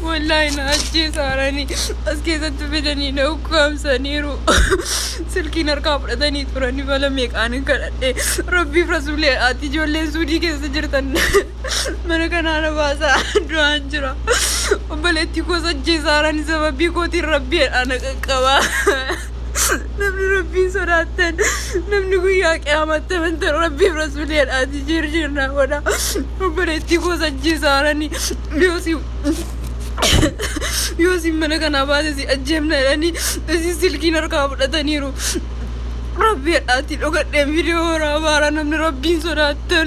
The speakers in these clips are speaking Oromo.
Wallaahi na ajjeesaaranii as keessatti fidanii na ukkaamsaniiru. Silkiin harkaa fudhatanii turanii bala meeqaan hin kadhadhe. Rabbiif rasuulee ati ijoolleen suudii keessa jirtan mana kanaa na baasaa du'aan jira. Obboleettii koos ajjeesaaranii sababii kootiin rabbii ana qaqqabaa. namni rabbiin sodaattan namni guyyaa qiyaamatti amantan rabbiif rasuuleedhaati jirjirnaa godha obboleettii koos ajjeesaarani yoosi yoosi mana kanaa baate si ajjeefna jedhanii isin silkiin harkaa fudhataniiru rabbiidhaati dhogadheen viidiyoo waraabaa namni rabbiin sodaattan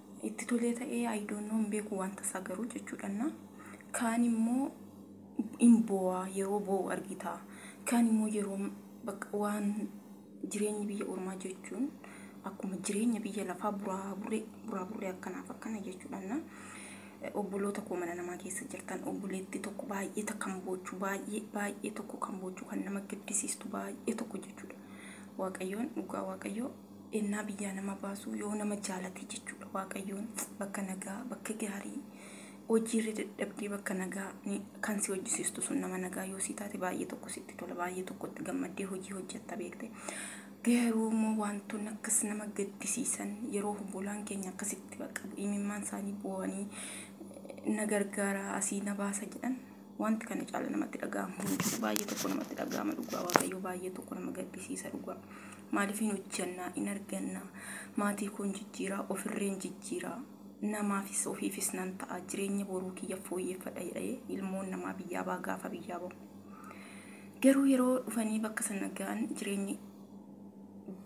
itti tolee ta'ee I don't know hin beeku wanta isaa garuu jechuudhanna kaan immoo in boo'a yeroo boo'u argita kaan immoo yeroo bakka waan jireenyi biyya ormaa jechuun akkuma jireenya biyya lafaa buraa buree buraa buree akkanaaf akkana jechuudhanna obboloota koo mana namaa keessa jirtan obboleetti tokko baay'ee takka kan boochu baay'ee baay'ee tokko kan boochu kan nama gaddisiistu baay'ee tokko jechuudha waaqayyoon dhugaa waaqayyoo ennaa biyyaa nama baasuu yoo nama jaalatee jechuudha waaqayyoon bakka nagaa bakka gaarii hojiirra dadhabdee bakka nagaa ni- kan si hojjisiistu sun nama nagaa yoo si taate baay'ee tokko sitti tola baay'ee tokkotti gammaddee hojii hojjetta beekte garuu immoo wantoonni akkas nama gaddisiisan yeroo obbolaan keenya akkasitti bakka imimmaan isaanii boo'anii na gargaara asii na baasa jedhan Wanti kana caala namatti dhaga'amu hin jiru. Baay'ee tokko namatti dhaga'ama dhugaa Waaqayyoo baay'ee tokko nama gaddisiisa dhugaa. Maaliif hin hojjannaa, hin argannaa, maatii koon jijjiiraa, ofirreen jijjiiraa, namaafis ofiifis nan ta'a, jireenya boruu kiyya fooyyeffadha jedhee ilmoon namaa biyyaa ba'a gaafa biyyaa ba'u. Garuu yeroo dhufanii bakka sana ga'an jireenyi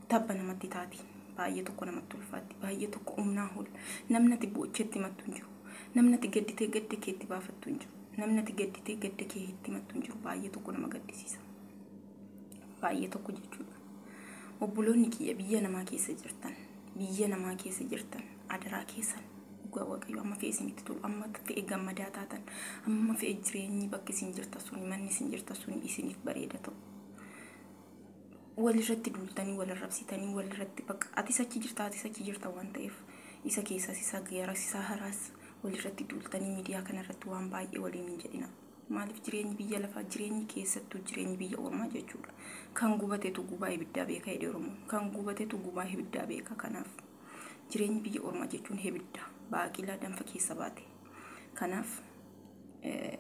tabba namatti taati. Baay'ee tokko namatti ulfaatti. Baay'ee tokko humnaa ol. Namni ati boocheetti himattu hin jiru. Namni ati gadditee gadda kee itti baafattu hin jiru. Namni ati gadditee gadda kee itti himattu hin jiru. Baay'ee tokko nama gaddisiisa. Baay'ee tokko jechuudha. Obboloonni kiyya biyya namaa keessa jirtan, biyya namaa keessa jirtan, adaraa keessan dhugaa waaqayyo amma fe'e isinitti tolu, amma fe'e gammadaa taatan, amma fe'e jireenyi bakki isin jirtan suni, manni isin jirtan suni isiniif bareeda ta'u. walirratti duultanii wal arrabsitanii walirratti bakka atis achi jirta atis achi jirta waan ta'eef isa keessas isa garas isa haraas walirratti duultanii miidiyaa kanarratti waan baay'ee waliin hin jedhina. Maaliif jireenyi biyya lafaa jireenyi keessattuu jireenyi biyya ormaa jechuudha. Kan gubatetu gubaa ibiddaa beeka jedhe Oromoon. Kan gubatetu gubaa ibiddaa beeka kanaaf. Jireenyi biyya ormaa jechuun ibidda baaqilaa danfa keessa baate. Kanaaf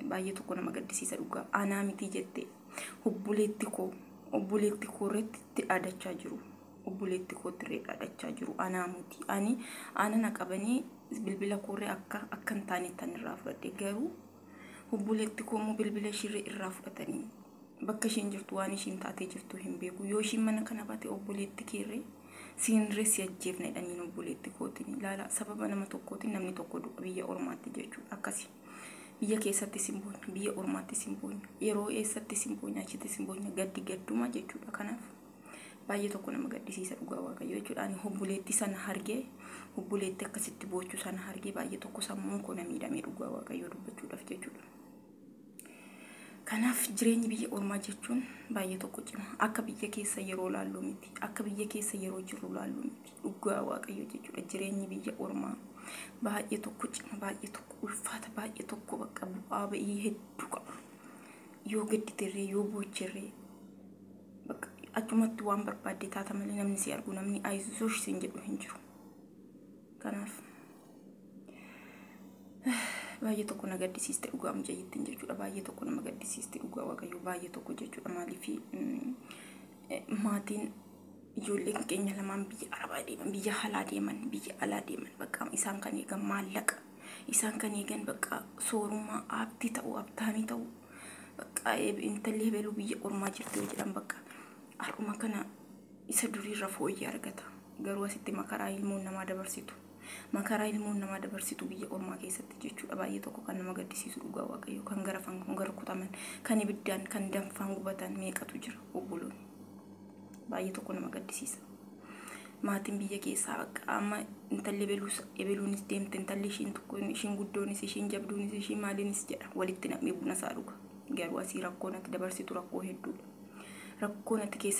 baay'ee tokko nama gaddisiisa dhugaa anaa miti jette obboleetti koo obboleetti koo irratti itti dhaadachaa jiru obboleetti koo irree dhaadachaa jiru anaa miti ani ana na qabanii bilbila koorree akka akka hin taane tan irraa fudhadhe garuu obboleetti koo immoo bilbila ishirree irraa fudhatanii Bakka ishiin jirtu waan ishiin taatee jirtu hin beeku. Yoo ishiin mana kana baate obboleetti keerree siinree si ajjeefna jedhaniin obboleetti kootiin ilaala. Sababa nama tokkootiin namni tokko du'a biyya ormaatti jechuun akkasi. Biyya keessatti sin boonya, biyya ormaatti sin boonya, yeroo eessatti sin boonya, achitti sin boonya, gaddi gadduma jechuudha. Kanaaf baay'ee tokko nama gaddisiisa dhugaa waaqayyo jechuudha. Ani obboleetti sana hargee obboleetti akkasitti boochuu sana hargee baay'ee tokko sammuun koo na miidhamee dhugaa waaqayyo dubbachuudhaaf jechuudha. Kanaaf jireenyi biyya ormaa jechuun baay'ee tokko cima. Akka biyya keessa yeroo laallu miti. Akka biyya keessa yeroo jirru laallu miti. Dhugaa waaqayyo jechuudha. Jireenyi biyya ormaa baay'ee tokko cima, baay'ee tokko ulfaata, baay'ee tokko bakka bu'aa ba'ii hedduu qaba. Yoo gadditirree, yoo boocherree, bakka achumatti waan barbaadde taata malee namni si argu, namni ayisuush siin jedhu hin jiru. Kanaaf baay'ee tokko na gaddisiiste dhugaa mucayyittiin jechuudha baay'ee tokko nama gaddisiiste dhugaa waaqayyoo baay'ee tokko jechuudha maaliif maatiin ijoolleen keenya lamaan biyya arabaa deeman biyya alaa deeman biyya alaa deeman bakka isaan kan eegan maallaqa isaan kan eegan bakka soorummaa abdii ta'u abdaanii ta'u bakka intalli hebeluu biyya ormaa jirti yoo jedhan bakka har'uma kana isa duriirra fooyyee argata garuu asitti makaraa ilmoon namaa dabarsitu Makaraa ilmoon namaa dabarsitu biyya ormaa keessatti jechuudha baay'ee tokko kan nama gaddisiisu dhugaa waaqayyo kan garafan kan garkutaman kan ibiddaan kan danfaan gubatan meeqatu jira obboloon baay'ee tokko nama gaddisiisa. Maatiin biyya keessaa bakka amma intalli ebeluus ebeluunis deemte intalli ishiin tokko ishiin guddoonis ishiin jabduunis ishiin maaliinis jedha walitti nam'ee buna isaa dhuga garuu asii rakkoon ati dabarsitu rakkoo hedduudha rakkoon ati keessa